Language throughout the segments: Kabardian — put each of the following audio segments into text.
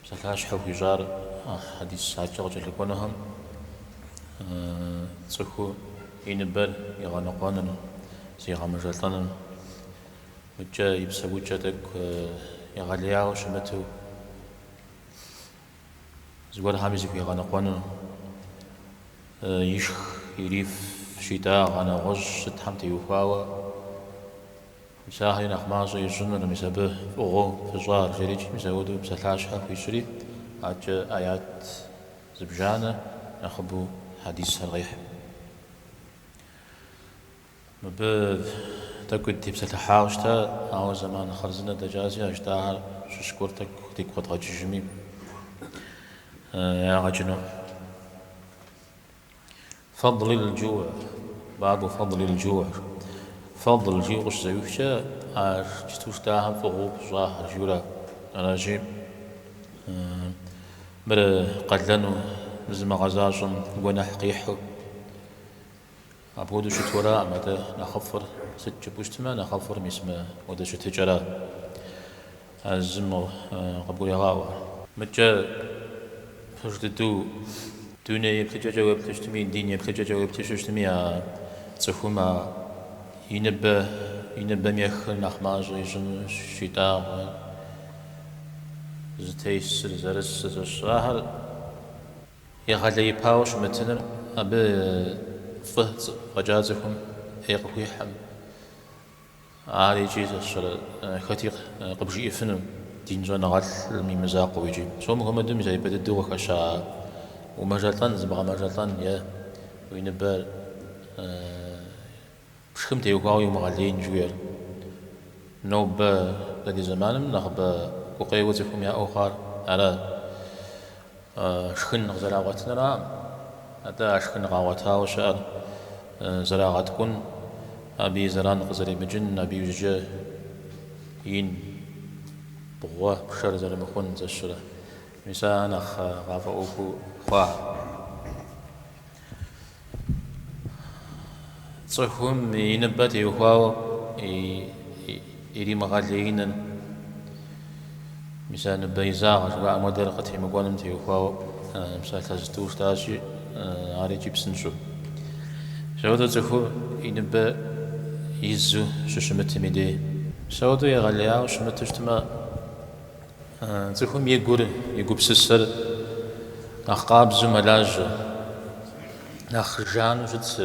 Псалъащхьэу хуищӏар а хьэдис адэкӏэ къыкӏэлъыкӏуэнухэм цӏыху и ныбэр игъэныкъуэныр, зигъэмыжэлӏэныр, мыдэкӏэ и псэукӏэ тӏэкӏу егъэлеяуэ щымыту зыгуэрхэми зыхуигъэныкъуэныр, ишх, ириф щитӏагъэ нэгъуэщӏ сытхэм теухуауэ, Мис ахэри нэхъ мащӏэ ищӏыныр, мис абы фӏыгъуэу пыщӏар, жери икӏи, мис апхуэдэу псалъащхьэ хуищӏри, адэкӏэ аят зыбжанэ нэхъыбэу хьэдисхэр къихьа. Мыбы тӏэкӏу дытепсэлъыхьауэ щыта, ауэ зэман хъарзынэ дэкӏащи а жытӏахэр щыщ гуэр тӏэкӏу дигу къэдгъэкӏыжми, ягъэ кӏыну. Фэдл ил-джу, Бабу фэдл ил-джу, Фэдл жиӏэу къыщызэӏуихкӏэ, а иджытэу жытӏахэм фӏыгъуэу пыщӏахэр жиӏэу ара. Аращи, мыр къалэну, зымыгъэзащӏэм гуэнэхь къихьу. Апхуэдэу щыту араӏым, атӏэ нэхъыфӏыр сыт жыпӏэу щытмэ, нэхъыфӏыр мис мыпхуэдэ щытыкӏэра. А зым къыбгурегъаӏуэ. Мыдэкӏэ пэж дыдэу дуней еплъыкӏэкӏэ уеплъу щытми, дин еплъыкӏэкӏэ уеплъу щытми, а цӏыхум а и ныбэ, и ныбэм ехыр нэхъ мащӏэ ищӏыну, щитӏагъэ, зытесыр, зэрысыр сэ сщӏэ, ахэр егъэлеипауэ щымытыныр абы фӏы фӏэкӏа цӏыхум ӏей къыхуихьӏым. Ар икӏи сэ сщӏэрэ хэти къыбжиӏэфыну, дин щӏэныгъэлӏым и мызакъуэу икӏи. Псом Мухэммэдым зэ ипэ дыдэу къыхэща умэжэлӏэн, зыбгъэмэжэлӏэн е уи ныбэ пшхым теухуауэ иумыгъэлейн жыхуиӏэр. Нобэ дэ ди зэманым нэхъыбэ гукъеуэ цӏыхум яӏэу хъуар ара. Шхын къызэрагъуэтынраӏым, атӏэ а шхын къагъуэтауэ щыӏэр зэрагъэткӏун, абы и зэран къызэримыкӏын, абы иужькӏэ ин, бгъуэ, пшэр зэрымыхъун сэ сщӏэрэ. Мис ар нэхъ къафӏэӏуэхуу хъуахэ. Цӏыхум и ныбэ теухуауэ иримыгъэлеиным, мис а ныбэ изагъ жыхуаӏэм хуэдэр къытемыкӏуэным теухуауэ псалъэ зытӏу жытӏащи, ар икӏи псынщӏэу. Мис апхуэдэу цӏыхур и ныбэ изу щыщымытым и дей. Мис апхуэдэу егъэлеяуэ щымыту щытмэ, Цӏыхум и гур, и гупсысэр нэхъ къабзэу мэлажьэ, нэхъ жану щытщ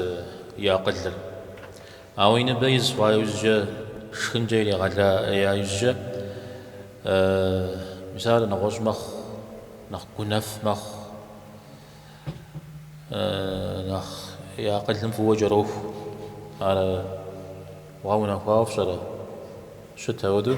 и акъылыр. Ауэ и ныбэ из хъуа иужькӏэ, шхынкӏэ иригъэлея иужькӏэ, мис ар нэгъуэщӏ мэхъу, нэхъ гунэф мэхъу, нэхъ и акъылым фӏыуэ кӏэроху. Ар гъэунэхуауэ фщӏэрэ? Щыт ауэдэу?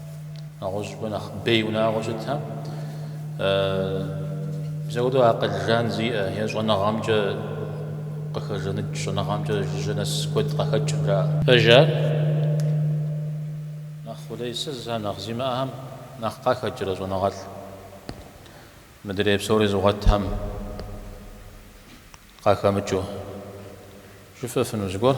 нэгъуэщӏыпӏэ нэхъ бей унагъуэ щытхэм, мис ауэдэу акъыл жан зиӏэ е щӏэныгъэмкӏэ къыхэжаныкӏ, щӏэныгъэмкӏэ жыжьэ нэс куэд къахэкӏым жаӏэ. Пэж ар, нэхъ къулейсызхэм, нэхъ зимыӏэхэм нэхъ къахэкӏрэ щӏэныгъэлӏ? Мыдрей псори зыгъуэтхэм къахэмыкӏыу жыфӏэфыну зыгуэр?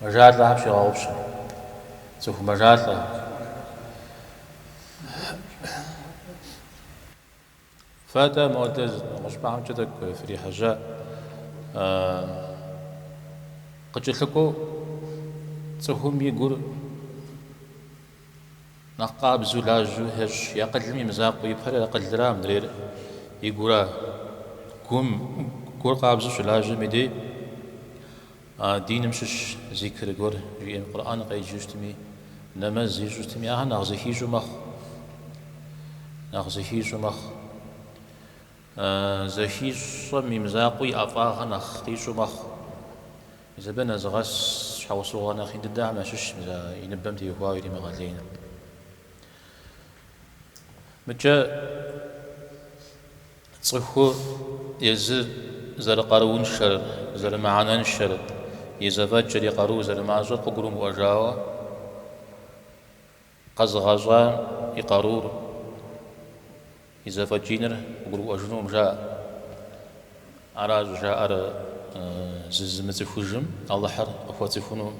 Мэжалӏэхэр пщегъэгъупщэ. Цӏыху мэжалӏэ. Фэ-тӏэ модэ зы нэгъуэщӏыпӏэмкӏэ тӏэкӏу фрихьэжьа. Къыкӏэлъыкӏуэу цӏыхум и гур. Нэхъ къабзэу, лажьэу ещӏ и акъылым и мызакъуэ ипэр акъылра, мыдрейр и гура? Гум, гур къабзэу щылажьэм и дей диным щыщ зикр гуэр жиӏэм, Къурӏэн къеджэу щытми, нэмэз ищӏу щытми, ахэр нэхъ зыхищӏу мэхъу. Нэхъ зыхищӏу мэхъу. Зэхищӏэм и мызакъуэу и ӏэфӏагъыр нэхъ къищӏу мэхъу. Мис абы нэзыгъэс щхьэусыгъуэ нэхъ ин дыдэхэм ящыщщ мис а и ныбэм теухуауэ иримыгъэлейныр. Мыкӏэ цӏыху езыр зэрыкъарууншэр, зэрымыхьэнэншэр, и зэфӏэкӏыр, и къару зэрымащӏэр къыгурымыӏуэжауэ, Къэзыгъэщӏа и къарур, и зэфӏэкӏиныр къыгурыӏуэжынум жаӏэ. Аращ жаӏэр зызымыцӏыхужым Алыхьыр къыхуэцӏыхунум,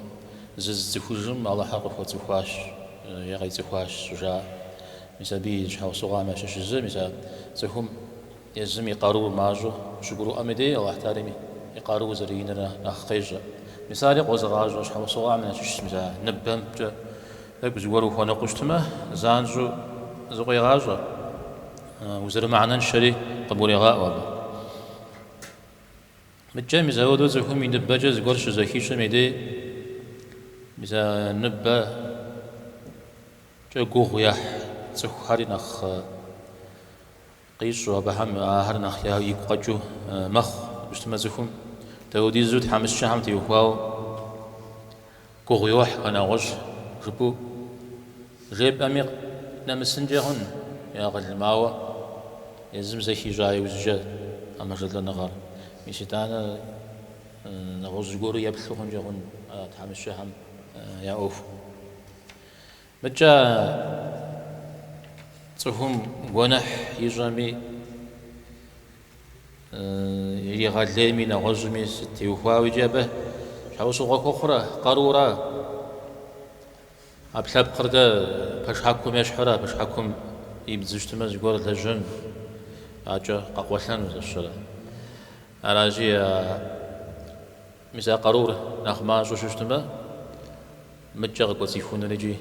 зызыцӏыхужым Алыхьыр къыхуэцӏыхуащ е къицӏыхуащ щӏыжаӏэр. Мис абы и щхьэусыгъуэхэм ящыщ зы, мис а цӏыхум Езым и къару мащӏэу щыгурыӏуэм и дей Алыхьталэм и къару зэриныр нэхъ къещӏэ. Мис ари къозыгъащӏэ щхьэусыгъуэхэм ящыщ зы мис а ныбэмкӏэ тӏэкӏу зыгуэр ухуэныкъуэу щытмэ, занщӏэу зыкъуегъащӏэ, узэрымыхьэнэншэри къыбгурегъаӏуэ абы. Мыдкӏэ мис ауэдэу цӏыхум и ныбэкӏэ зыгуэр щызэхищӏым и дей мис а ныбэкӏэ гугъу ехь цӏыхухэри нэхъ Къищӏу абыхэм ахэр нэхъ я игу къэкӏыу мэхъу щытмэ цӏыхум. Даудизу тхьэмыщкӏэхэм теухуауэ гугъу йохь хэ нэгъуэщӏ жыпӏэу жепӏэми нэмысынкӏэ хъун и акъылым, ауэ езым зэ хищӏа иужькӏэ а мэжэлӏэныгъэр. Мис итӏанэ нэгъуэщӏ зыгуэру еплъу хъункӏэ хъун а тхьэмыщкӏэхэм я ӏуэхум. Мыдкӏэ цӏыхум гуэныхь ищӏэми, иригъэлейми, нэгъуэщӏми сыт теухуауэ икӏи абы щхьэусыгъуэ хуэхъур а къарура. Ӏэпкълъэпкъыр дэ пэшхьэкум ещхьурэ, пэшхьэкум ибдзу щытмэ зыгуэр лэжьэн, акӏэ къэкъуэлъэну зэщэрэ? Аращи, Мис а къарур нэхъ мащӏэу щытмэ, мыткӏэ къыкӏуэцӏихунур икӏи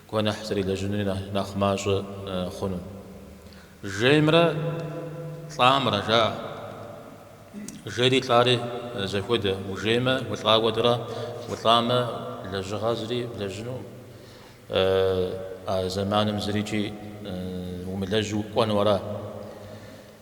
гуэныхь зэрилэжьынури нэхъ мащӏэ хъуну. Жеймрэ лӏамрэ, жаӏэ. Жейри лӏари зэхуэдэ, ужеймэ, улӏа хуэдэра, улӏамэ, лэжьыгъэ зыри блэжьынукъым. А зэманым зыри икӏи умылэжьу укӏуэну ара.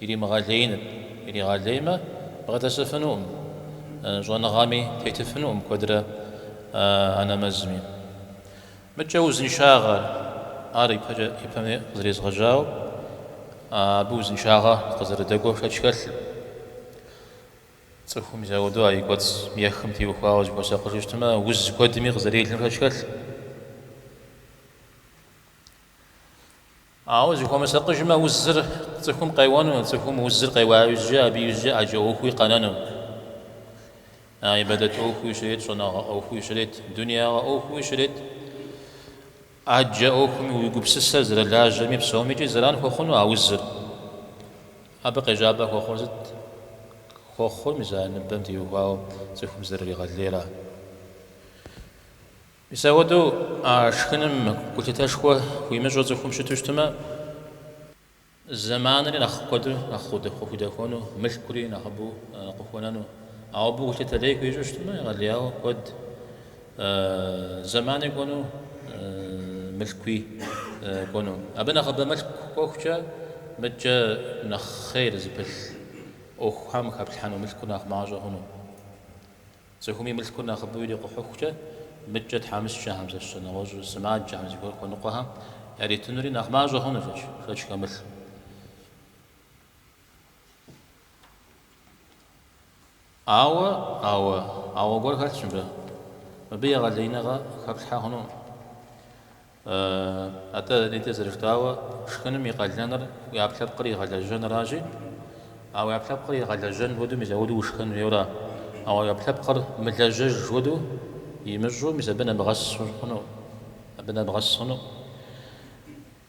Иримыгъэлеиныр иригъэлеймэ, бгъэдэсыфынукъым, щӏэныгъэми тетыфынукъым куэдрэ а нэмэзми. Мыдкӏэ узыншагъэр, ар ипэкӏэ ипэми къызэрезгъэжьауэ, абы узыншагъэ къызэрыдэкӏуэ шэч хэлъым. Цӏыхум мис ауэдэу а и кӏуэцӏым ехым теухуауэ зыхуэсакъыжу щытмэ, уз куэдми къызэрелым шэч хэлъым. Ауэ зыхуэмысакъыжмэ, узыр цӏыхум къеуэну, цӏыхум узыр къеуа иужькӏэ абы иужькӏэ ӏэджэ ӏуэхуи къэнэну. А ибадэт ӏуэхуи щрет, щӏэныгъэ ӏуэхуи щрет, дунеягъэ ӏуэхуи щрет. ӏэджэ ӏуэхуми уи гупсысэр зэрылажьэми псомикӏи зэран хуэхъуну а узыр. Абы къежьапӏэ хуэхъур сыт? Хуэхъур мис а ныбэм теухуауэ цӏыхум зэрыригъэлейра. Мис ауэдэу а шхыным гулъытэшхуэ хуимыщӏу цӏыхум щыту щытмэ, зэманри нэхъ куэду нэхъ къыхудэхуэну, мылъкури нэхъыбэу къыхуэнэну. Ауэ абы гулъытэ лей хуищӏу щытмэ, егъэлеяуэ куэд зэмани кӏуэну, мылъкуи кӏуэну. Абы нэхъыбэ мылъку кӏуэхукӏэ, мыдкӏэ нэхъ хъейр зыпылъ ӏуэхухэм хэплъхьэну мылъкур нэхъ мащӏэ хъуну. Цӏыхум и мылъкур нэхъыбэу ирикъухьыхукӏэ, мыткӏэ тхьэмыщкӏэхэм, сэ сщӏэ, нэгъуэщӏу сымаджэхэм зыгуэр хуэныкъуэхэм яритынури нэхъ мащӏэ хъунущ икӏи шэч хэмылъу. Ауэ, ауэ, ауэ гуэр хэлъщ мыбы. Мыбы егъэлеиныгъэ хэплъхьэ хъунукъым. Атӏэ, нетӏэ зэрыжытӏауэ, шхыным и къалэныр уи ӏэпкълъэпкъыр игъэлэжьэныращи, а уи ӏэпкълъэпкъыр игъэлэжьэн хуэдэу мис ауэду ушхэн хуейуэра? Ауэ уи ӏэпкълъэпкъыр мылэжьэж хуэдэу имыщӏу мис абы нэбгъэс хъуну? Абы нэбгъэс хъуну?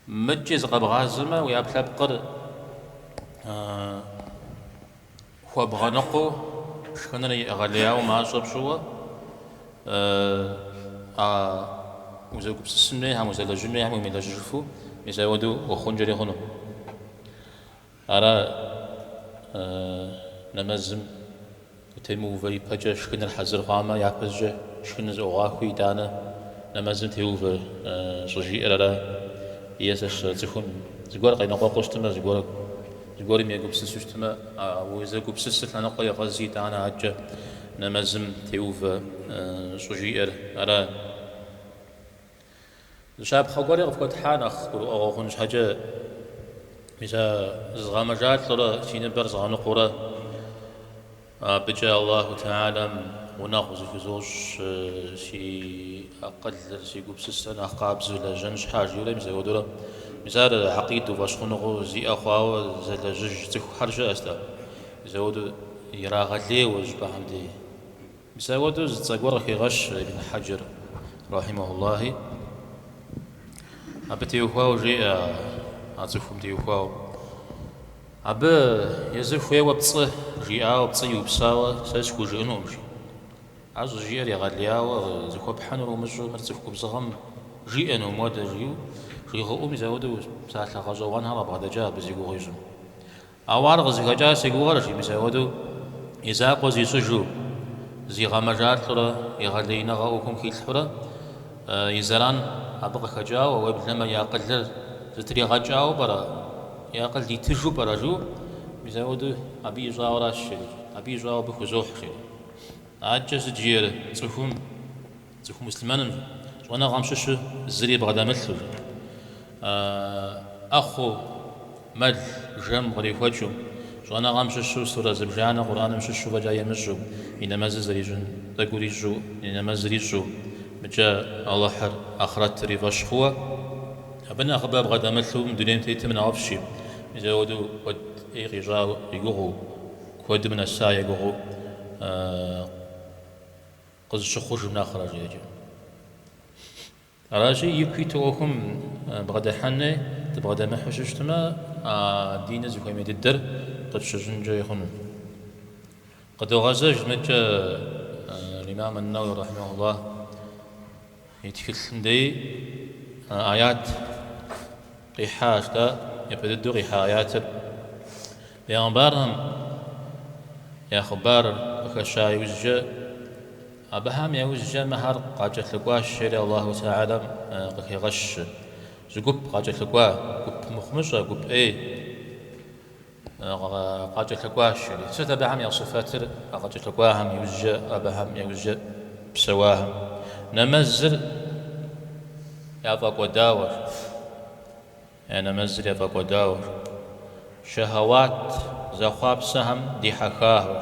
Мыкӏи зыкъэбгъазэмэ, уи ӏэпкълъэпкъыр Хуэбгъэныкъуэу, шхыныр егъэлеяуэ мащӏэ пщӏыуэ, а узэгупсысын хуейхэм, узэлэжьын хуейхэм уемылэжьыжыфу, мис ауэдэу ухъункӏэри хъуну. Ара нэмэзым утемыувэ ипэкӏэ шхыныр хьэзыр хъуамэ, япэщӏыкӏэ шхыныр зыӏугъахуи, итӏанэ нэмэзым теувэ щӏыжиӏэр ара? Е сэ сщӏэрэ цӏыхум зыгуэр къеныкъуэкъуу щытмэ, зыгуэр Зыгуэрым егупсысу щытмэ, а узэгупсысыр лъэныкъуэ егъэзи, итӏанэ адэкӏэ нэмэзым теувэ щӏыжиӏэр ара? Зы щапхъэ гуэри къыфхуэтхьа нэхъ гурыӏуэгъуэ хъун щхьэкӏэ, мис а зызгъэмэжалӏэурэ си ныбэр згъэныкъуурэ. Абыкӏэ Аллаху Тэхьэлам гъунэгъу зыхузощӏ, си акъылыр, си гупсысэр нэхъ къабзэу лэжьэн щхьа, жиӏэурэ мис ауэдурэ. Мис ар акъиду фӏэщхъуныгъэу зиӏэ хъуауэ зэлэжьыж цӏыхухэр щыӏэщ-тӏэ. Мис ауэду ирагъэлейуэ. Щапхъэм дей мис ауэдэу зы цӏэ гуэр къыхегъэщ Ибн Хьэджэр рахьимэхуллахи. Абы теухуауэ жеӏэ, а цӏыхум теухуауэ. Абы езыр хуейуэ пцӏы жиӏауэ, пцӏы иупсауэ сэ схужыӏынукъым, жи. Ар щӏыжиӏэр егъэлеяуэ зыхуэпхьынур умыщӏу, мыр цӏыху губзыгъэм жиӏэнум уэдэ, жиӏэу жыуигъэӏу мис ауэдэу псалъэ гъэщӏэгъуэнхэр къыбгъэдэкӏа абы зи гугъу ищӏым. Ауэ ар къызыхэкӏар си гугъэрщ, жи, мис ауэдэу и закъуэ зищӏыжу, зигъэмэжалӏурэ, егъэлеиныгъэ ӏуэхум хилъхьурэ, И зэран абы къыхэкӏауэ, уеблэмэ и акъылыр зэтригъэкӏауэ пӏэрэ, и акъыл итыжу пӏэрэ жу, мис ауэду абы ищӏауэращ, жери, абы ищӏауэ абы хузохь, жери. Адэкӏэ сыт жиӏэр цӏыхум, цӏыху муслъымэным, щӏэныгъэм щыщу зыри бгъэдэмылъу, жери. ӏэхъуу, мэл, жэм кърихуэкӏыу, щӏэныгъэм щыщу, сурэ зыбжанэ Къурӏэным щыщу фӏэкӏа имыщӏу, и нэмэзыр зэрищӏын тӏэкӏу ирищӏу, и нэмэзыр ищӏу, мыкӏэ Алыхьыр ахърэтыр и фӏэщ хъууэ, абы нэхъыбэ бгъэдэмылъу мы дунейм тетым нэхъыфӏщи, мис абы хуэдэу куэд ӏей къищӏа и гугъэу, куэдым нэса и гугъэу къызыщыхъужым нэхърэ, жеӏэкӏэ. Аращи, ику иту ӏуэхум бгъэдыхьэни, дыбгъэдэмыхьу щыщтмэ, а диныр зыхуэмей дыдэр къытщыщӏынкӏэ хъуну. Къыдогъэзэж мыдкӏэ Имам ан-Науауи рахьимэхулла и тхылъым дей аят. Къихьащ, атӏэ, япэ дыдэу къихьа аятыр. Бегъымбархэм я хъыбарыр къыхэща иужькӏэ, абыхэм яужькӏэ мыхэр къакӏэлъыкӏуащ, жери Аллаху тэхьэлам къыхегъэщ. Зы гуп къакӏэлъыкӏуа, гуп мыхъумыщӏэ, гуп ӏей. Къакӏэлъыкӏуащ, жери. Сыт абыхэм я сыфэтыр? А къакӏэлъыкӏуахэм иужькӏэ, абыхэм я ужькӏэ псэуахэм нэмэзыр яфӏэкӏуэдауэр, яни нэмэзыр яфӏэкӏуэдауэр, шэхьэуат зэхъуапсэхэм дихьэхахэр,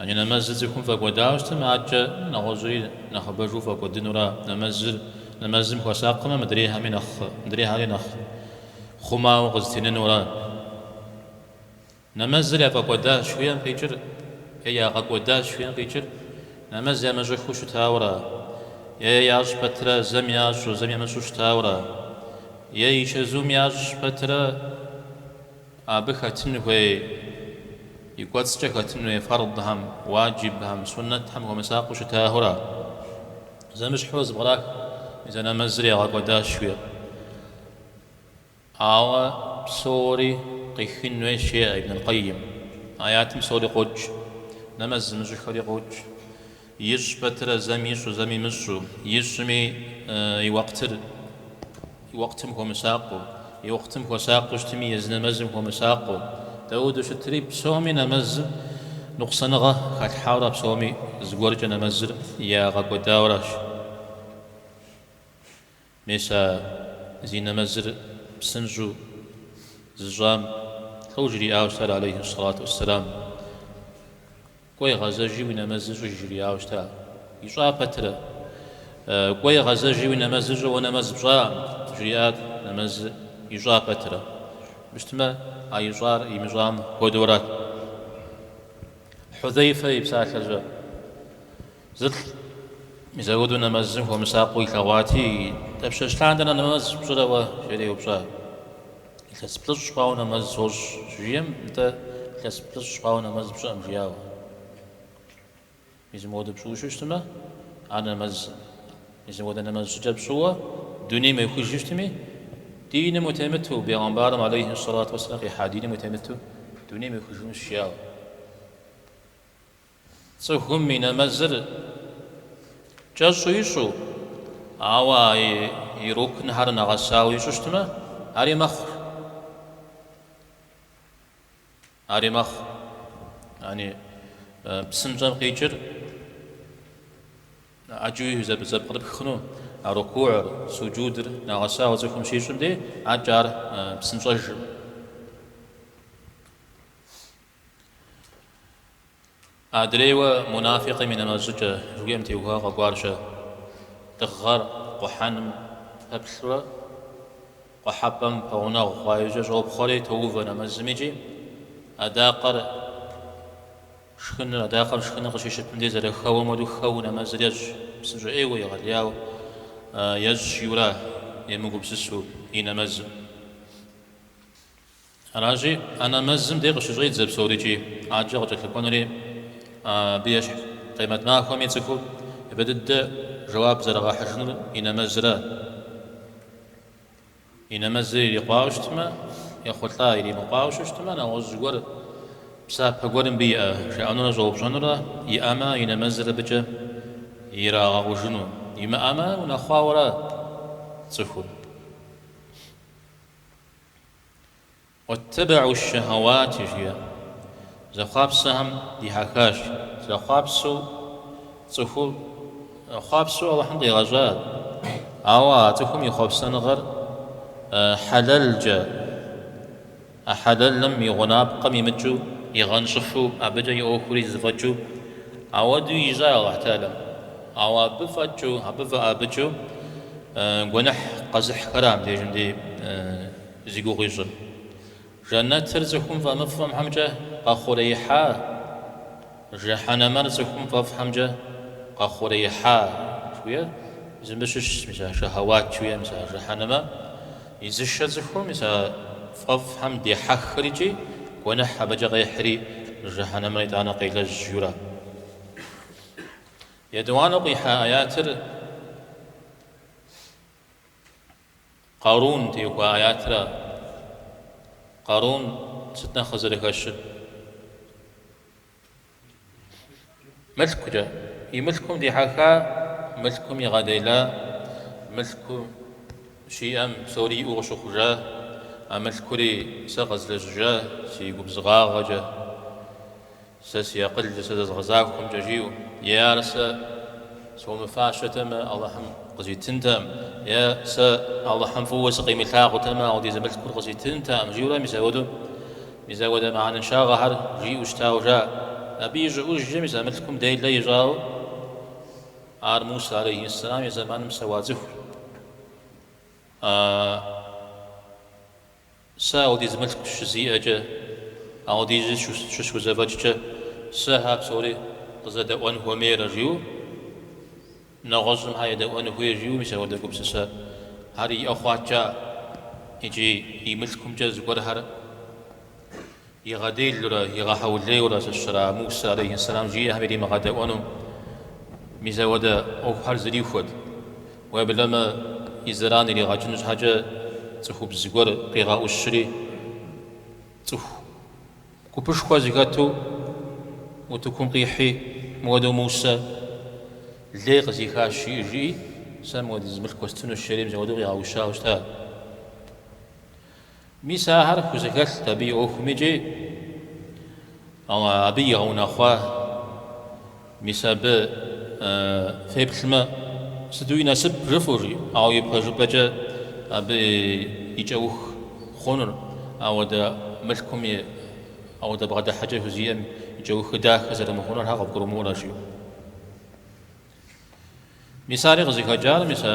Яни нэмэзыр цӏыхум фӏэкӏуэдауэ щытмэ, адэкӏэ нэгъуэщӏри нэхъыбэжу фӏэкӏуэдынура? Нэмэзыр нэмэзым хуэсакъымэ, мыдрейхэми нэхъ мыдрейхэри нэхъ хъумауэ къызытенэнура? Нэмэзыр яфӏэкӏуэдащ жыхуиӏэм къикӏыр е ягъэкӏуэдащ жыхуиӏэм къикӏыр? Нэмэз ямыщӏыххэу щытауэра? Е ящӏ пэтрэ зэм ящӏу, зэм ямыщӏу щытауэра? Е и чэзум ящӏ пэтрэ? Абы хэтын хуей, и кӏуэцӏкӏэ хэтын хуей фэрдхэм, уаджибхэм, суннэтхэм хуэмысакъыу щытахэура? Зэмыщхьэу зэпкърах мис а нэмэзыр ягъэкӏуэдащ жыхуиӏэр. Ауэ псори къихын хуейщ, жеӏэ Ибн аль-Къэйим. Аятым псори къокӏ, нэмэз зымыщӏыххэри къокӏ. Ищӏ пэтрэ зэм ищӏу, зэм имыщӏу, ищӏми и уэкътыр и уэкътым хуэмысакъыу, и уэкътым хуэсакъыу щытми, езы нэмэзым хуэмысакъыу, дауду щытри, псоми нэмэзым нукъсаныгъэ халъхьауэрэ псоми зыгуэркӏэ нэмэзыр ягъэкӏуэдауращ. Мис а зи нэмэзыр псынщӏу зыщӏам тхыу жриӏауэ щытар алейхьи сэлату уэсселам? Кӏуэи гъэзэжи уи нэмэзыр щӏыж жриӏауэ щыта? Ищӏа пэтрэ? Кӏуэи гъэзэжи уи нэмэзыр щӏы, уэ нэмэз пщӏаӏэм, жриӏат нэмэз ищӏа пэтрэ. Мыщтмэ а ищӏар имыщӏам хуэдэурат. Хьузэйфэ и псалъэкӏэ. Зы лӏы мизауду нэмэзым хуэмысакъыу илъэгъуати, Дапщэщ лъандэрэ нэмэз пщӏырэ уэ? жери еупщӏа. Илъэс плӏыщӏ хъуауэ нэмэз сощӏ, щыжиӏэм, нтӏэ, илъэс плӏыщӏ хъуауэ нэмэз пщӏыӏэм, жиӏауэ. Мизым хуэдэу пщӏыуэ щыщтмэ, ар нэмэзкъым. Мизым хуэдэ нэмэз щӏыкӏэ пщӏыуэ дунейм уехыжу щытми, диным утемыту, бегъымбарым алейхьи сэлату уэсэлам къихьа диным утемыту, дунейм уехыжынущ, жиӏауэ. Цӏыхум и нэмэзыр кӏэщӏу ищӏу, ауэ а и рукнхэр нэгъэсауэ ищӏу щытмэ, ари мэхъу. Ари мэхъу. Яни, псынщӏэм къикӏыр ӏэджэу зэпкърыпх хъуну, а рукугьыр, суджудыр нэгъэсауэ цӏыхум щищӏым дей, ӏэкӏэ ар псынщӏэжым. Адрейуэ мунафикъым и нэмэз щӏыкӏэ жыхуиӏэм теухуауэ къэкӏуарщэ. Дыгъэр къухьэным пэплъурэ къухьэпӏэм пэгъунэгъу хъуа иужькӏэ щӏопхъуэри тоувэ нэмэзым икӏи адакъэр шхыныр, адакъэр шхыныр къыщищыпым дей зэрыхэуэм хуэдэу хэуэу нэмэзыр ещӏ, псынщӏэ ӏейуэ егъэлеяуэ ещӏ, жиӏэурэ емыгупсысу и нэмэзым. Аращи, а нэмэзым де къыщыщӏедзэ псори икӏи ӏэджэ къыкӏэлъыкӏуэнури абы ещхь къемэт махуэми цӏыхур япэ дыдэ жэуап зэрыгъэхьыжынур и нэмэзра. И нэмэзыр ирикъуауэ щытмэ, ехъулӏа, иримыкъуауэ щытмэ, нэгъуэщӏ гуэр псапэ гуэр мыбы иӏэ, жаӏэнурэ щӏэупщӏэнурэ иӏэмэ, и нэмэзыр абыкӏэ ирагъэкъужыну, имыӏэмэ, унэхъуауэра цӏыхур. Уаттэбэӏу шэхьэуати жиӏэ. Зэхъуапсэхэм дихьэхащ. Зэхъуапсэу цӏыхур хъуапсэу Алыхьым къигъэщӏат, ауэ а цӏыхум и хъуэпсэныгъэр хьэлэлкӏэ, а хьэлэлым и гъунапкъэм имыкӏыу, игъэнщӏыфу, абыкӏэ и ӏуэхури зэфӏэкӏыу, ауэдэу ищӏа Алыхьталэм. Ауэ абы фӏэкӏыу, абы фӏыӏэбыкӏыу гуэныхь къэзыхьхэра абдежым дей зи гугъу ищӏыр? Жэнэтыр цӏыхум фӏэмыфӏымхэмкӏэ къэхъуреихьа? Жыхьэнэмэр цӏыхум фӏэфӏхэмкӏэ къэхъуреихьа? жыхуиӏэр зым щыщщ, мис а шэхьэуат жыхуиӏэ мис а жыхьэнэмэ изышэр цӏыхум, мис а фӏэфӏхэм дехьэххэр икӏи гуэныхь абыкӏэ къехьри, жыхьэнэмэр итӏанэ къелэжь жиӏэурэ. Етӏуанэу къихьа аятыр Къарун теухуа аятра? Къарун сыт нэхъ къызэрыхэщыр? Мылъкукӏэ. И мылъкум дихьэха, мылъкум игъэдела, мылъку щиӏэм псори иӏэу къыщыхъужа, а мылъкури сэ къэзлэжьыжа, си губзыгъагъэкӏэ. Сэ си акъыл сэ зэзгъэзахуэмкӏэ жиӏэу, е ар сэ схуэмыфащэтэмэ, Алыхьым къызитынтэкъым, е сэ Алыхьым фӏыуэ сыкъимылъагъутэмэ, ауэдиз мылъкур къызитынтэкъым, жиӏэурэ мис ауэдэу мыхьэнэншагъэхэр жиӏэу щытауэ жаӏэ. Абы и щӏыӏужкӏэ мис а мылъкум делэ ищӏауэ ар Муса алейхьиссэлам и зэманым псэуа цӏыхур. Сэ ауэдиз мылъку щызиӏэкӏэ, ауэдизу щысхузэфӏэкӏкӏэ, сэ хьэ псори къызэдэӏуэн хуэмейрэ жиӏэу, нэгъуэщӏым хьэ едэӏуэну хуей жиӏэу мис ауэдэ гупсысэхэр иӏэ хъуат жаӏэ, икӏи и мылъкумкӏэ зыгуэрхэр Игъэделурэ игъэхьэулейурэ сыщра Мусэ алейхьэссэлам жиӏэхэм иримыгъэдэӏуэну? Мис ауэдэ ӏуэхухэр зэрихуэт. Уеблэмэ и зэран иригъэкӏыну щхьэкӏэ цӏыхубз гуэр къигъэӏущри, цӏыху гупышхуэ зэхэту утыкум къихьи, мыуэдэу Мусэ лей къызихащ, жыӏэ жиӏи, сэ мыуэдиз мылъку уэстынущ, жери мис ауэдэу къигъэӏущауэ щыта. Мис ахэр хузэхэлът абы и ӏуэхум икӏи абы игъэунэхъуа. Мис абы феплъмэ, сыту и насып жыфӏэу жи, ауэ ипэжыпӏэкӏэ абы и кӏэух хъунур, ауэдэ мылъкум и ауэдэ бгъэдыхьэкӏэ хузиӏэм и кӏэухыр дахэ зэрымыхъунур хьэ къывгурымыӏуэрэ жи. Мис ари къызыхэкӏар, мис а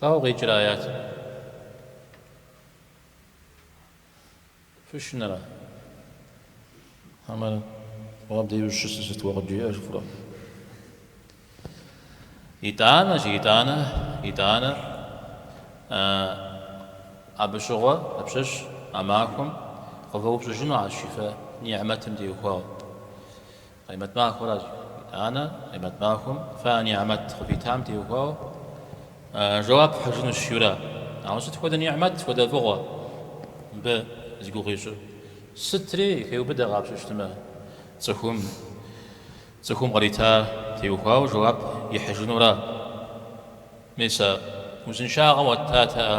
Ауэ къикӏыр аятым фышынэра? Амэр уаб дежу щысыр сыт уэ къыджиӏэр фщӏэрэ? Итӏанэ жи, итӏанэ, итӏанэ. Абы щыгъуэ апщэщ а махуэм къывэупщӏыжыну аращ жи фэ ни'мэтым теухуауэ. Къаймэт махуэращ итӏанэ, Къаймэт махуэм фэ нигьмэт къывитам теухуауэ жэуап фхьыжынущ жиӏэурэ. Ауэ сыт хуэдэ нигьмэт, хуэдэ фӏыгъуэ мыбы зи гугъу ищӏыр? Сытри хеубыдэ къапщтэмэ, цӏыхум, цӏыхум кърита теухуауэ жэуап ихьыжынура? Мис а узыншагъэм уэт, татэ, а?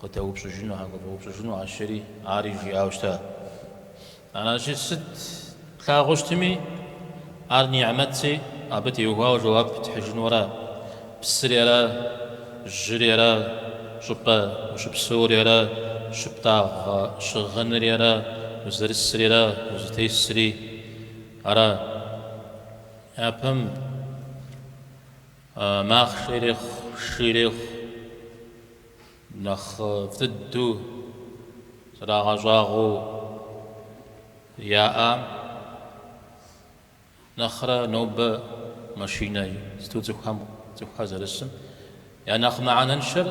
Къыдэупщӏыжынухэм къывэупщӏыжыну аращ жери ари жиӏауэ щыта. Аращи, сыт плъагъуу щытми, ар нигьмэтщи, абы теухуауэ жэуап тхьыжыну ара? Псыри ара, жьыри ара, щӏыпӏэ ущыпсэури ара, щыптӏагъэ щыгъынри ара, узэрысри ара, узытесри ара? Япэм махъшэ ирехъу, шы ирехъу. нэхъыфӏ дыдэу зэрагъэщӏагъуэу яӏам нэхърэ нобэ машинэ сыту цӏыхухэм цӏыхухэр зэрысым я нэхъ мыхьэнэншэр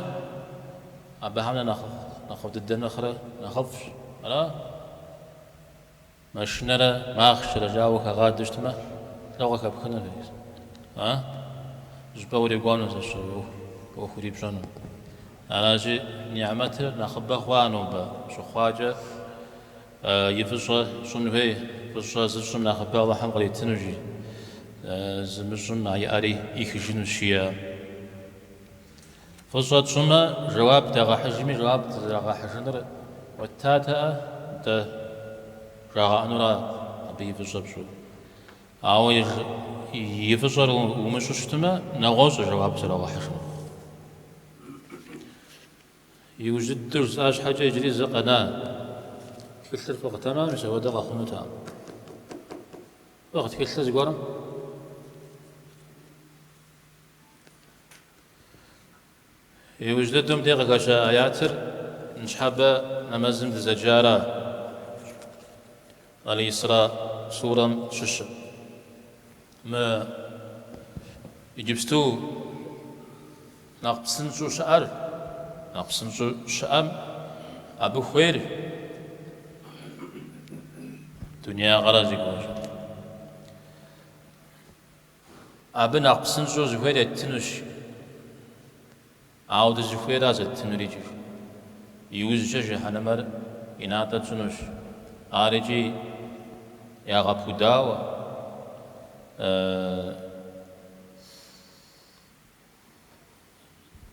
абыхэм нэхъ нэхъыфӏ дыдэ нэхърэ нэхъыфӏщ ара? Машинэрэ махъшэрэ жаӏэу ухагъадэу щытмэ, лӏо къыхэпхынур, жи. А? Щӏыпӏэ урикӏуэну сэ сщӏэ уэ ӏуэху урипщӏэну. Аращи, ниӏмэтыр нэхъыбэ хъуа нобэ щыхъуакӏэ и фӏыщӏэ щӏын хуей, фӏыщӏэ зыщӏым нэхъыбэ Алыхьым къритыну, жи. Зымыщӏым а иӏэри ӏихыжынущ, жиӏэ. Фӏыщӏэ тщӏымэ, жэуап дагъэхьыжми, жэуап дызэрагъэхьыжыныр уэттатэ-ӏэ, дэ жагъэӏэнура абы и фӏыщӏэ пщӏыр? Ауэ и фӏыщӏэр умыщӏу щытмэ, нэгъуэщӏ жэуап зэрагъэхьыжынур. Иужь дыдэу жысӏа щхьэкӏэ иджыри зы къэна. Тхылъыр фикъхтэмэ, мис апхуэдэ къэхъунутэкъым. Фикъх тхылъыр зыгуэрым? Иужь дыдэм де къыхэща аятыр ныщхьэбэ нэмэзым дызэджара? Аль-Исра сурэм щыщщ. Мы иджыпсту нэхъ псынщӏу щыӏэр, нэхъ псынщӏу щыӏэм абы хуейр дунеягъэра зи гугъу ищӏ. Абы нэхъ псынщӏэу зыхуейр еттынущ, ауэ дызыхуейра зэттынур икӏи. Иужькӏэ жыхьэнэмэр и натӏэ тщӏынущ, ар икӏи ягъэпудауэ.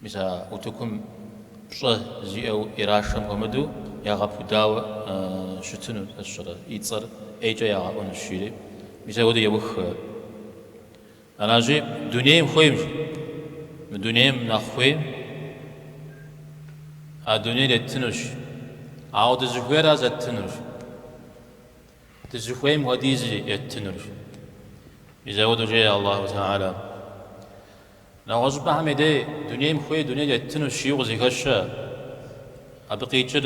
Мис а утыкум пщӏэ зиӏэу ирашэм хуэмыдэу ягъэпудауэ щытыну сэ сщӏэрэ? И цӏэр ӏейкӏэ ягъэӏуэнущ, жери. Мис апхуэдэу еух. Аращи, дунейм хуеймщ. Мы дунейм нэхъ хуейм а дунейр еттынущ. Ауэ дызыхуейра зэттынущ. Дызыхуейм хуэдиз еттынырщ. Мис апхуэдэу жеӏэ Аллаху тахьэлэ. Нэгъуэщӏыпӏэхэм дей дунейм хуейм дуней еттыну жиӏэу къызыхэщэ. Абы къикӏыр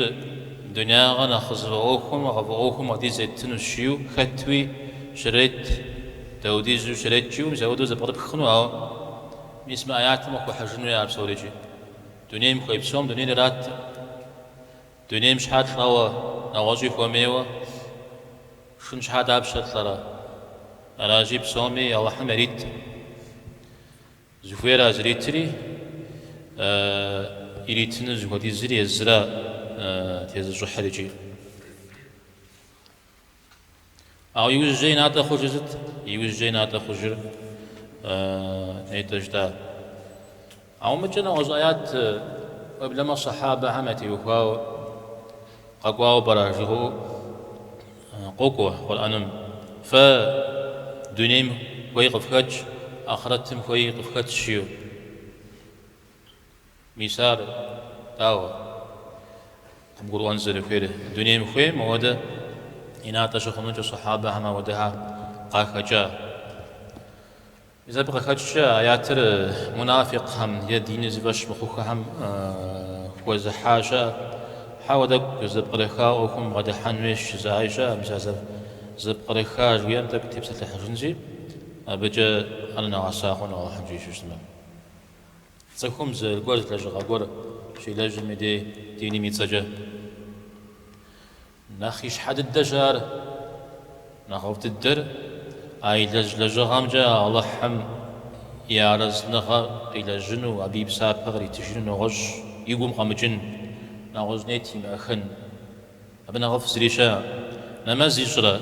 дунягъэ нэхъ къызыфӏэӏуэхум, къыфӏэӏуэхум хуэдиз еттыну жиӏэу хэтуи щрет, даудизу щрет жиӏэу мис апхуэдэу зэпкърыпхыну, ауэ мис мы аятым къыхуэхьыжын хуей ар псори икӏи. Дунейм хуей псом дунейр ираттэ. Дунейм щхьэ лӏэуэ, нэгъуэщӏи хуэмейуэ? Шхын щхьэ дапщэ лӏэрэ? Аращи, псоми Алыхьым ярит. Зыхуейра зритри, иритыну зыхуэдизри езыра тезыщӏыхьыр икӏи. Ауэ иужькӏэ и натӏэ хъужыр сыт? Иужькӏэ и натӏэ хъужыр нетӏэ жытӏа? Ауэ мыкӏэ нэгъуэщӏ аят уеблэмэ сахьабэхэм ятеухуауэ къэкӏуауэ пӏэрэ жыуигъэӏэу къокӏуэ Къурӏэным. Фэ дунейм хуей къыфхэтщ, ахърэтым хуей къыфхэтщ жиӏэу. Мис ар, дауэ, къыбгурыӏуэн зэрыхуейр? Дунейм хуейм ауэдэ и натӏэ щыхъунукӏэ сахьабэхэм ауэдэхэр къахэкӏа? Мис абы къыхэкӏкӏэ аятыр мунафикъхэм е диныр зыфӏэщ мыхъуххэхэм хуэзыхьа щыӏэ? Хьэуэ, тӏэкӏу зэпкърыхауэ ӏуэхум бгъэдыхьэн хуейщ жызыӏаи щыӏэ. Мис а зэпкърыха жыхуиӏэм тӏэкӏу тепсэлъыхьыжынщи, абыкӏэ ар нэгъэса хъуну Алыхьым жиӏэу щыщытмэ. Цӏыхум зы гуэл лэжьыгъэ гуэр щилэжьым и дей диным и цӏэкӏэ. Нэхъ ищхьэ дыдэщ ар. Нэхъыфӏ дыдэр а илэжь лэжьыгъэмкӏэ Алыхьым и арэзыныгъэ къилэжьыну, абы и псапэ къритыжыну нэгъуэщӏ и гум къэмыкӏын, нэгъуэщӏ нет имыӏэхын. Абы нэхъыфӏ зыри щыӏэ. Нэмэз ищӏрэ?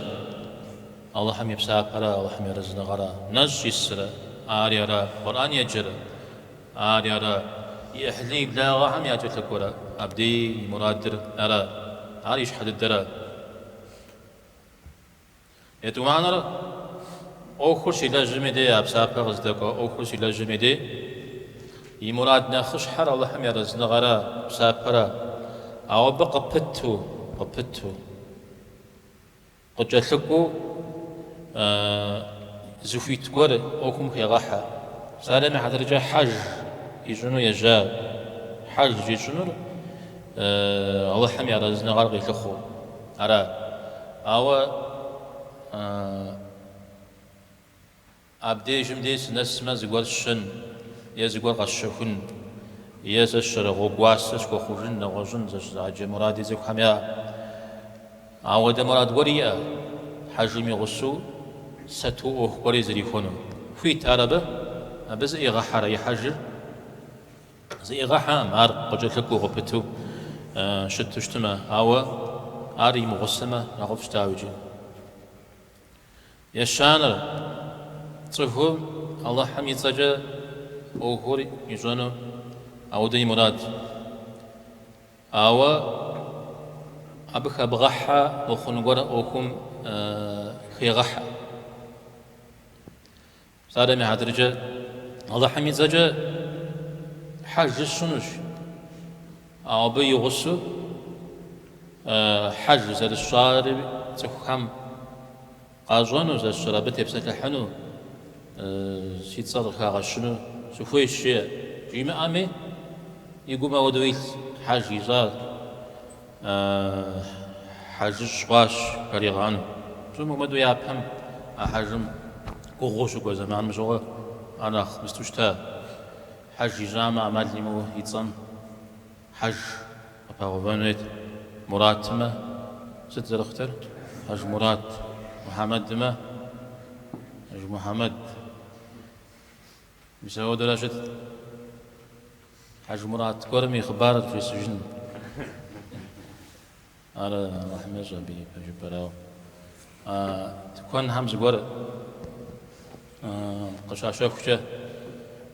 Алыхьым и псапэрэ Алыхьым и арэзыныгъэрэ? Нэщӏ исрэ? Ари ара? Къурӏэн еджэрэ? Ари ара? И ӏыхьлы и благъэхэм якӏэлъыкӏуэрэ? Абдеи и мурадыр ара? Ар ищхьэ дыдэра? Етӏуанэр ӏуэхур щилэжьым и дей, а псапэ къыздэкӏуэ ӏуэхур щилэжьым и дей, и мурад нэхъыщхьэр Алыхьым и арэзыныгъэрэ псапэрэ, ауэ абы къыпыту, къыпыту, къыкӏэлъыкӏуэу зыхуит гуэр ӏуэхум хегъэхьэ. Псалъэм и хьэтыркӏэ хьэж ищӏыну ежьа, хьэж ищӏынур Алыхьым и арэзыныгъэр къилъыхъуэу. Ара? Ауэ абдежым дей сынэсмэ, зыгуэр сщын е зыгуэр къэсщэхун е сэ сщэр гъуэгу уасэ схуэхъужын, нэгъуэщӏын зэщызыгъэджэ муради цӏыхухэм яӏэ. Ауэдэ мурад гуэр иӏэ хьэжым и гъусэу сэту ӏуэху гуэри зэрихуэну. Хуит ар абы? Абы зыӏигъэхьэрэ и хьэжыр? Зыӏигъэхьэкъым ар къыкӏэлъыкӏуэу къыпыту щыту щытмэ, ауэ ар имыгъусэмэ нэхъыфӏ щытауэ икӏи. Ещанэр, цӏыхум Алыхьым и цӏэкӏэ ӏуэхур ищӏэну ауэдэ и мурад. Ауэ абы хэбгъэхьэ мыхъун гуэр ӏуэхум хегъэхьэ. Псалъэм и хьэтыркӏэ Алыхьым и цӏэкӏэ хьэжыр сщӏынущ, ауэ абы и гъусэу хьэж зэрысщӏари цӏыхухэм къащӏэну, зэрысщӏар абы тепсэлъыхьыну, си цӏэр къыхагъэщыну сыхуейщ, жиӏэ. Жимыӏэми, и гум ауэдэу илъ, хьэж ищӏат. Хьэжыщӏ хъуащ жаригъэӏэну. Псом хуэмыдэу япэм а хьэжым гугъуу щыкӏуэ зэманым щыгъуэ ар нэхъ мысту щыта. Хьэж ищӏамэ, ӏэмал имыӏэу и цӏэм хьэж къыпагъэувэн хуейт. Муратымэ сыт зэрыхъутэр? Хьэжмурат. Мухьэмэдымэ, Хьэжмухьэмэд. Мис ауэдэурэ щытт. Хьэжмурат гуэрым и хъыбарыр фжесӏэжын. Ар Алыхьым ещӏэ абы и пэ жыпэрауэ. Тыкуэнхэм зыгуэр къыщащэхукӏэ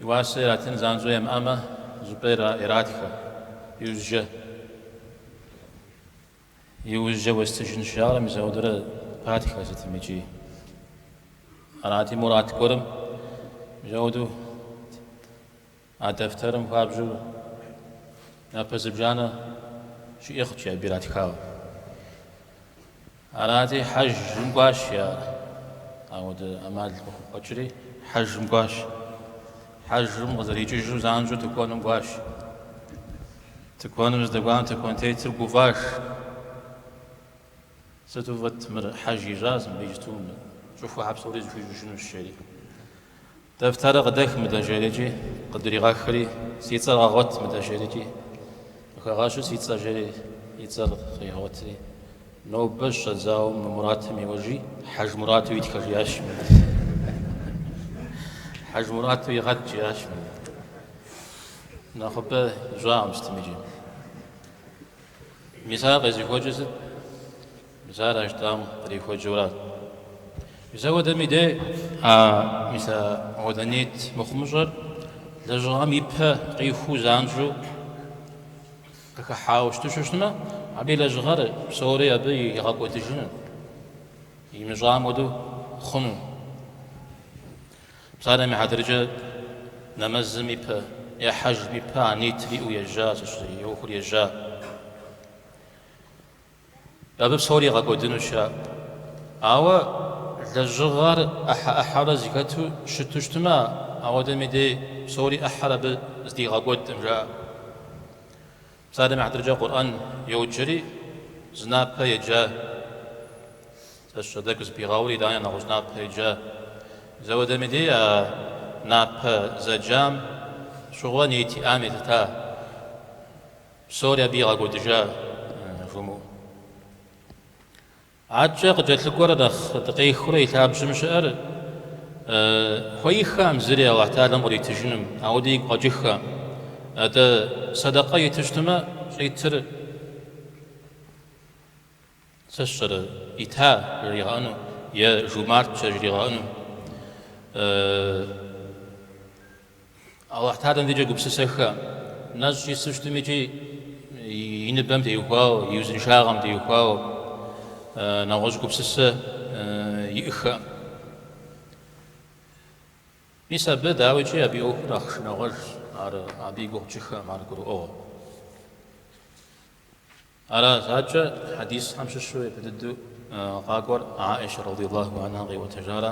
и уасэ иратын занщӏэу ямыӏэмэ, зыпӏэ иратхэ. Иужь, иужькӏэ уэстыжынщ жаӏэрэ, мис ауэдэурэ патхэ сытым икӏи. Арати Мурат гуэрым, мис ауэдэу А дэфтэрым хуабжьу напэ зыбжанэ щиӏэ хъукӏэ абы иратхауэ. Арати, хьэжым кӏуащ, жиӏар. Ауэдэ ӏэмал къыхукъуэкӏри, хьэжым кӏуащ. Хьэжым къызэрикӏыжу занщӏэу тыкуэным кӏуащ. Тыкуэным здэкӏуам тыкуэнтетыр гуфӏащ. Сыту фӏыт мыр, хьэж ищӏащ мыбы иджыту мы щӏыхуэхэр псори зэхуищӏыжынущ, жери. Дэфтэрыр къыдэх мыдэ жери икӏи, къыдригъэхри, Си цӏэр къэгъуэт мыдэ жери икӏи. Къыхэгъэщу си цӏэ, жери, и цӏэр къигъуэтри. Нобэ щӏэдзауэ мы Муратым еуэжи, Хьэжмурату итхэ, жиӏащ. Хьэжмурату игъэт, жиӏащ. Нэхъыбэ ищӏакъым сытым иджы. Мис ар къезыхуэкӏыр сыт? Мис ар Аштӏам кърихуэкӏыурат. Мис ауэдэми де? А, мис ауэдэ нейт мыхъумыщӏэр лэжьыгъэм и пэ къихуу занщӏэу къыхыхьауэ щыту щытмэ, абы и лэжьыгъэр псори абы игъэкӏуэдыжыну, имыщӏам хуэдэу хъуну. Псалъэм и хьэтыркӏэ нэмэзым и пэ е хьэжым и пэ ниетыр иӏэу ежьа, сщӏэрэ, и ӏуэхур ежьа. Абы псори игъэкӏуэдыну жаӏэ. Ауэ лэжьыгъэр ӏыхьэ-ӏыхьэурэ зыхэту щыту щытмэ, ауэдэм и дей псори ӏыхьэр абы зэдигъэкӏуэдкъым, жаӏэ. Псалъэм и хьэтыркӏэ Къурӏэн йоджэри, зы напэ еджа. Сэ сщӏэ, тӏэкӏу зыпигъэури, итӏани нэгъуэщӏ зы напэ еджа. Мис ауэдэм и дей а напэ зэджам щыгъуэ ниет иӏам елъыта, псори абы игъэкӏуэдыжа жумыӏу. Акӏэ къыкӏэлъыкӏуэр нэхъ дыкъехыурэ и лъабжьэм щыӏэр хуеиххэӏым зыри Алыхь Тэхьалэм къритыжыным, ауэдэ игу къэкӏыххэ. Атӏэ, сэдэкъэ итыщтмэ, щӏитыр сэ сщӏэрэ, ита жригъэӏэну е жумартщэ жригъэӏэну? Алыхь Тэхьалэм дейкӏэ гупсысэххэӏым, нэщӏ ису щытмэ икӏи и ныбэм теухуауэ, и узыншагъэм теухуауэ нэгъуэщӏ гупсысэ иӏыххэӏым. Мис абы, дауикӏи, абы и ӏуэхур нэхъ шынагъуэжщ, ар абы и гугъу тщӏыххэӏым ар гурыӏуэгъуэ. Аращи акӏэ хьэдисхэм щыщу япэ дыдэу къакӏуэр Аӏищэ радиаллаху анхэ къиӏуэтэжара?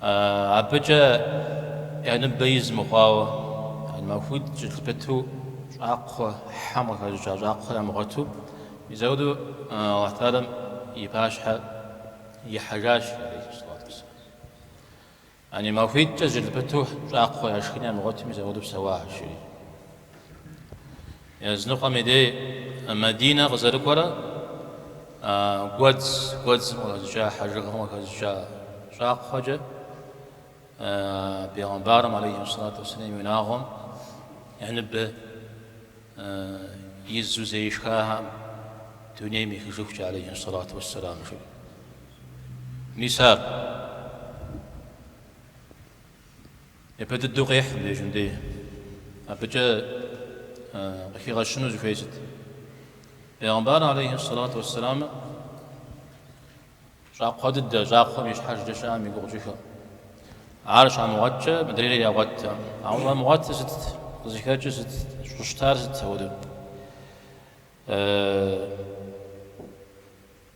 Абыкӏэ я ныбэ из мыхъуауэ, махуитӏ зыкӏэлъыпыту щӏакхъуэ хьэм къыхэщӏыкӏа щӏакхъуэ ямыгъуэту, мис ауэдэу Алыхь Тэхьалэм и пащхьэ ихьэжащ, алейхи сэлату уэсэлам. Яни махуитӏкӏэ зыкӏэлъыпыту щӏакхъуэ яшхын ямыгъуэту мис ауэдэу псэуахэщ, жери. Языныкъуэм и дей Мадинэ къызэрыкӏуэрэ гуэдз, гуэдзым къыхэщӏыкӏа хьэжыгъэм къыхэщӏыкӏа щӏакхъуэкӏэ Пегъэмбарым алейхи сэлату уссэлам и унагъуэм я ныбэ изу зэи шхахэӏым дунейм ехыжыхукӏэ алейхи сэлату уссэлам жиӏэ. Мис ар Япэ дыдэу къехь мыбдежым дей. Абыкӏэ къыхигъэщыну зыхуей сыт? Пейгъэмбар алейхи сэлату уэссэлам щӏакхъуэ дыдэ, щӏакхъуэм и щхьэжкӏэ щыӏэм и гугъу тщӏыххэӏым. Ар щамыгъуэтчӏэ мыдрейр ягъуэтт. Ауэ щӏамыгъуэтыр сытт? Къызыхэкӏыр сытт? Щӏыщытар сытт апхуэдэу?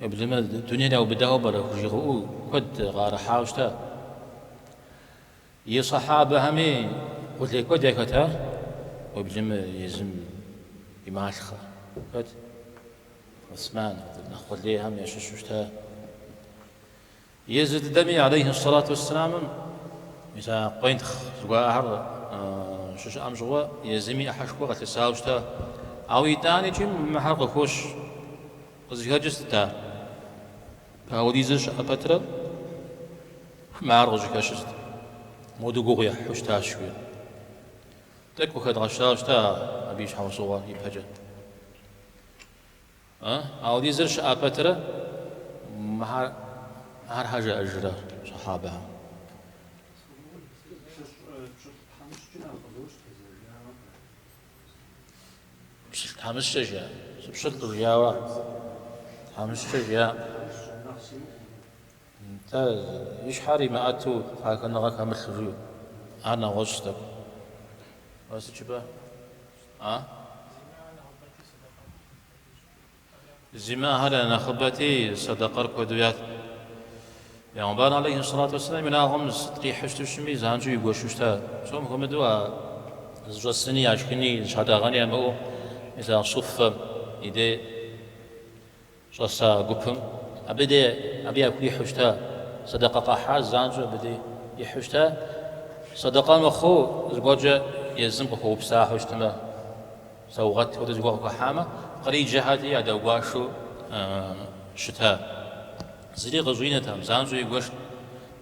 Уеблэмэ, дунейр яубыдауэ пӏэрэ хужыуигъэӏэу куэд къыӏэрыхьауэ щыта. И сахьабэхэми къулей куэд яхэта, уеблэмэ езым и малъхъэ. Хэт? Осман, нэхъ къулейхэм ящыщу щыта. Езы дыдэми алейхьи ссалату уэсселам мис къуентхъ зыгуэрхэр щыщыӏэм щыгъуэ езыми ӏыхьэшхуэ къылъысауэ щыта. Ауэ итӏани икӏи мы мыхэр къыхощ. Къызыхэкӏыр сыт ар? Ауэдизыр щыӏэ пэтрэ мыхэр къыщӏыхэщыр сыт, моду гугъу ехьу щытащ жиӏэу. Тӏэкӏу къыхэдгъэщауэ щыта абы и щхьэусыгъуэ ипэкӏэ. Ауэдизыр щыӏа пэтрэ мыхэр щхьэ жаӏэжрэ сыхьэбэхэм? Пщылӏ тхьэмыщкӏэ жаӏэ. Сыпщылӏ къыжиӏауэ ар тхьэмыщкӏэ жаӏэм. Нтӏэ, и щхьэр имыӏэту пагэныгъэ хэмылъу жиӏэу. Ар нэгъуэщӏ тӏэкӏу. Уэ сыт жыпӏэ? А? Зимыӏэхэр я нэхъыбэти, сэдэкъэр куэду ятт. Пэйгъэмбар алейхи сэлату уэсэлам и унагъуэм сыт къихьэу щыту щытми, занщӏэу игуэшу щыта. Псом хуэмыдэу а зыщӏэсыни, яшхыни, зыщатӏэгъэни ямыӏэу, мис а суффэ и дей. Щӏэса гупым, абы де, абы яхуихьу щыта, сэдэкъэ къахьа занщӏэу абы де ихьу щыта, сэдэкъэ мыхъуу зыгуэркӏэ езым къыхуэупсахэу щытмэ, саугъэт хуэдэ зыгуэр къыхуахьамэ, къриджэхэрти ядэгуашэу щыта. Зыри къыщӏинэтэкъым, занщӏэу игуэшт.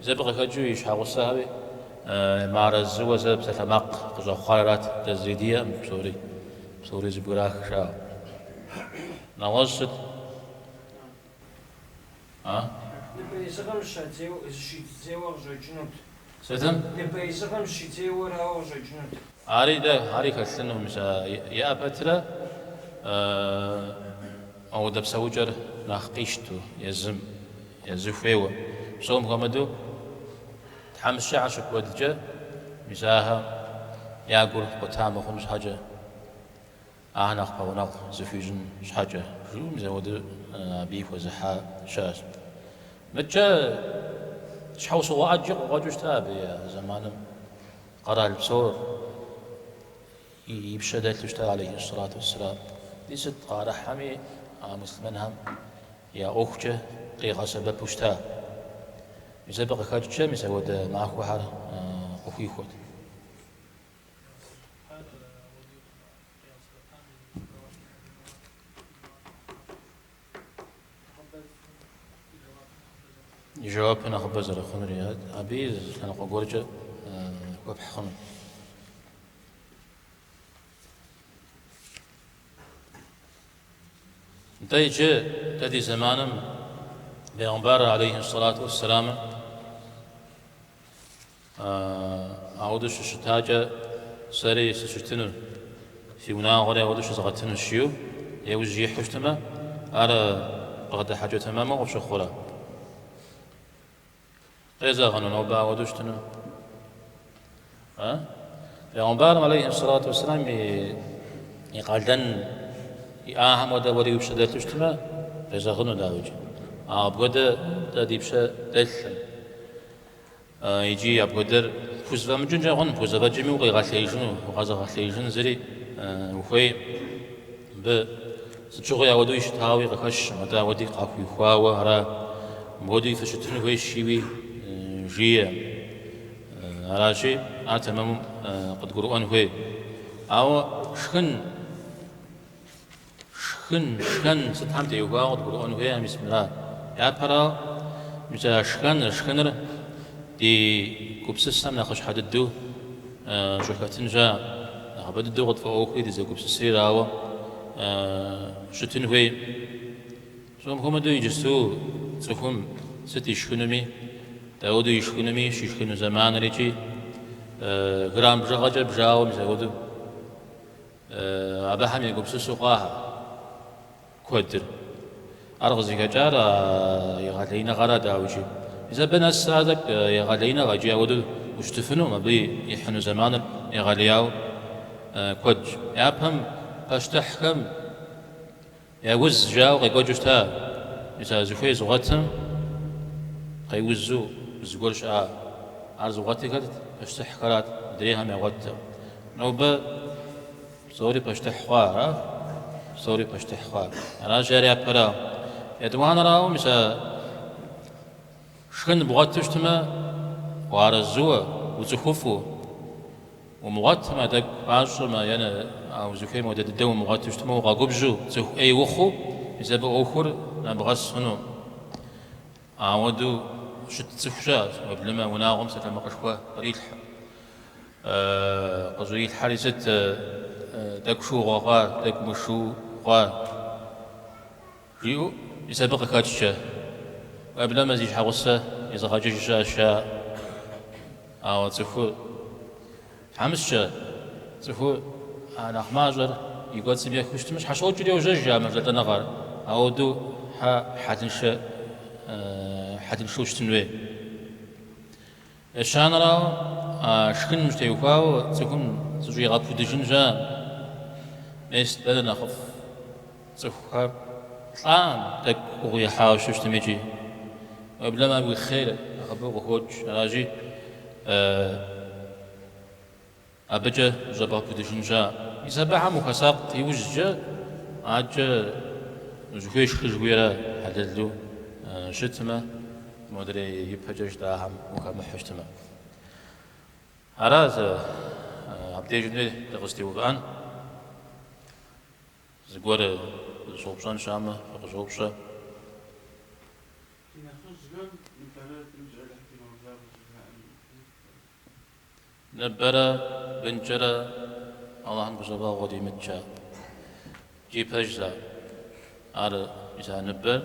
Зэ абы къыхэкӏыу и щхьэгъусэхэри мыарэзыуэ зэ псалъэмакъ къыщӏэхъуар арат, дэ зыри диӏэкъым псори, псори зэбграх, жаӏэу. Нэгъуэщӏ сыт? А? Ныбэизыгъэм зыщидзейуэ къыщӏэкӏынут. Сытым? Ныбэизыгъэм зыщидзейуэ арауэ къыщӏэкӏынут. Ари дэ, ари хэлъынукъым, мис а иӏэ пэтрэ мыуэдэ псэукӏэр нэхъ къищту езым, езы хуейуэ. Псом хуэмыдэу тхьэмыщкӏэхэр щыкуэдкӏэ, мис ахэр я гур къута мыхъун щхьэкӏэ. Ахэр нэхъ пэгъунэгъу зыхуищӏын щхьэкӏэ, жиӏэу мис ауэдэу абыи хуэзыхьа щыӏэщ. Мыдкӏэ щхьэусыгъуэ ӏэджи къыкъуэкӏыу щыта абы я зэманым къэрал псор и пщэ дэлъу щыта алейхиссалату уссалам. Ди сыт къыӏэрыхьэми а муслъымэнхэм я ӏуэхукӏэ къигъэсэбэпу щыта. Мис абы къыхэкӏкӏэ мис ауэдэ махуэхэр къыхуихуэт. и жэуапыр нэхъыбэ зэрыхъунури, атӏэ абыи лъэныкъуэ гуэркӏэ хуэпхь хъуну. Нтӏэ иджы дэ ди зэманым бегъымбар алейхи сэлату уэсселамым ауэдэу щыщытакӏэ сэри сыщытыну, си унагъуэри ауэдэу щызгъэтынущ жиу еужь ихьу щытмэ, ар бгъэдыхьэкӏэ тэмэму къыпщыхъурэ? Къезэгъыну нобэ ауэдэу щытыну? Бегъымбарым алейхи салату вассалам и къалэн иӏахэм хуэдэ уэри уи пщэ дэлъу щытмэ, къезэгъыну дауикӏ. Ауэ апхуэдэ дэ ди пщэ дэлъым. Икӏи апхуэдэр пхузэфӏэмыкӏынкӏэ хъун, пхузэфӏэкӏыми укъигъэлъеижыну, укъэзыгъэлъеижын зыри ухуейм. Абы сыт щыгъуи ауэдэуи щытауи къыхэщым, атӏэ ауэдэуи къахуихуауэ ара? Мыуэдэуи фыщытыну хуейщ жиуи жиӏэ. Аращи, ар тэмэму къыдгурыӏуэн хуей. Ауэ шхын, шхын, шхэн сытхэм теухуауэ къыдгурыӏуэн хуейр мис мыра. Япэрауэ, мис а шхэныр, шхыныр ди гупсысэм нэхъыщхьэ дыдэу Щӏыхэтын щыӏэм. Нэхъыбэ дыдэу къытфӏэӏуэхури дызэгупсысри арауэ щытын хуейкъым. Псом хуэмыдэу иджысту цӏыхум сыт ишхынуми, дауэду ишхынуми, щишхыну зэманыр икӏи грамм бжыгъэкӏэ бжауэ мис ауэдэу абыхэм егупсысу къахьыр. Куэдыр. Ар къызыхэкӏар а егъэлеиныгъэра, дауикӏи? Мис абы нэсрэ ар тӏэкӏу егъэлеиныгъэ икӏи ауэдэу ущытыфынукъым, абы ихьыну зэманыр егъэлеяуэ куэдщ. Япэм пащтыхьхэм я уз жаӏэу къекӏуэкӏыу щыта, мис а зыхуей зыгъуэтым къеузу зыгуэр щыӏа, ар зыгъуэтыхэр пащтыхьхэрат, мыдрейхэм ягъуэттэм. Нобэ Псори пащтыхь хъуа ара? Псори пащтыхь хъуа? Аращи, ари япэрауэ. Етӏуанэрауэ, мис а шхын бгъуэту щытмэ, уарэзыуэ, уцӏыхуфӏу, умыгъуэтмэ, а тӏэкӏу мащӏэмэ, е а узыхуейм хуэдэ дыдэу умыгъуэту щытмэ, укъэгубжьу, цӏыху ӏей ухъуу, мис абы ӏуэхур нэбгъэс хъуну. Ауэдэу щыт цӏыху щыӏэщ, уеблэмэ, а унагъуэм псалъэмакъышхуэ кърилъхьэ. Къыщӏрилъхьэри сыт, тӏэкӏу шыугъэ хъуа, тӏэкӏу мышыу хъуа? жиӏэу мис абы къыхэкӏкӏэ, уеблэмэ зи щхьэгъусэ изыгъэкӏыж щыӏэщ жаӏэ. Ауэ цӏыхур Тхьэмыщкӏэ, цӏыху а нэхъ мащӏэр и кӏуэцӏым ехыу щытмэ, щхьэщокӏри йожьэж а мэжэлӏэныгъэр, ауэдэу хьэ хьэлыншэ хьэлыншэу щытын хуей. Ещанэрауэ, а шхыным щытеухуауэ цӏыхум зыщӏигъэпудыжын щыӏэм, мес дэнэ нэхъыфӏ? Цӏыхухэр лӏам тӏэкӏу гугъу ехьауэ щытми икӏи. Уеблэмэ ар уи хъер нэхъыбэу къыхокӏ, аращи, абыкӏэ щӏэбгъэпудыжын щыӏэ. Мис абыхэм ухуэсакъ иужькӏэ адэкӏэ зыхуей шхыжыхуейрэ хьэлэлу щытмэ, модрей ипэкӏэ жытӏахэм ухэмыхьэу щытмэ. Ара зэ абдежым дэ дыкъызытеувыӏэн? Зыгуэр зыщӏэупщӏэн щыӏэмэ, фыкъыщӏэупщӏэ. Ди нэхъыжьхэм ныбэрэ бынкӏэ Алыхь дигъэблагъэ жыхаӏэм и ӏыхьэ. Ныбэрэ бынкӏэрэ Алыхьым гузэвэгъуэ димыткӏэ? Икӏи пэж за? Ар мис а ныбэр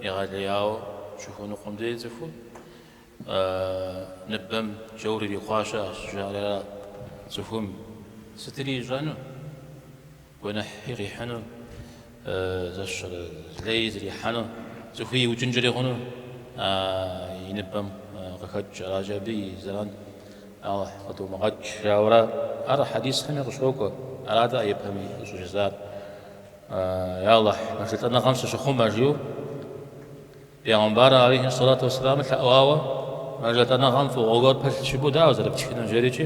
егъэлеяуэ щыхуэныкъуэм дей цӏыху ныбэм джаур ирихъуащ ащ жаӏэрэ цӏыхум сытри ищӏэну? Гуэныхьи къихьыну, зэщэрэ лей зрихьэну, цӏыхуи иукӏынкӏэри хъуну а и ныбэм къыхэкӏ аращи, абы и зэран Алыхь къыдумыгъэкӏ, жаӏэурэ ар хьэдисхэми къыщокӏуэ. Арат а япэми къыщӏыжысӏар, Я Алыхь, мэжэлӏэныгъэм сыщыхъумэ, жиӏэу Пегъымбар алейхи сэлату уэсселам лъэӏуауэ, мэжэлӏэныгъэм фӏыгъуэ гуэр пылъ щыгур дауэ зэрыптхынур жери икӏи.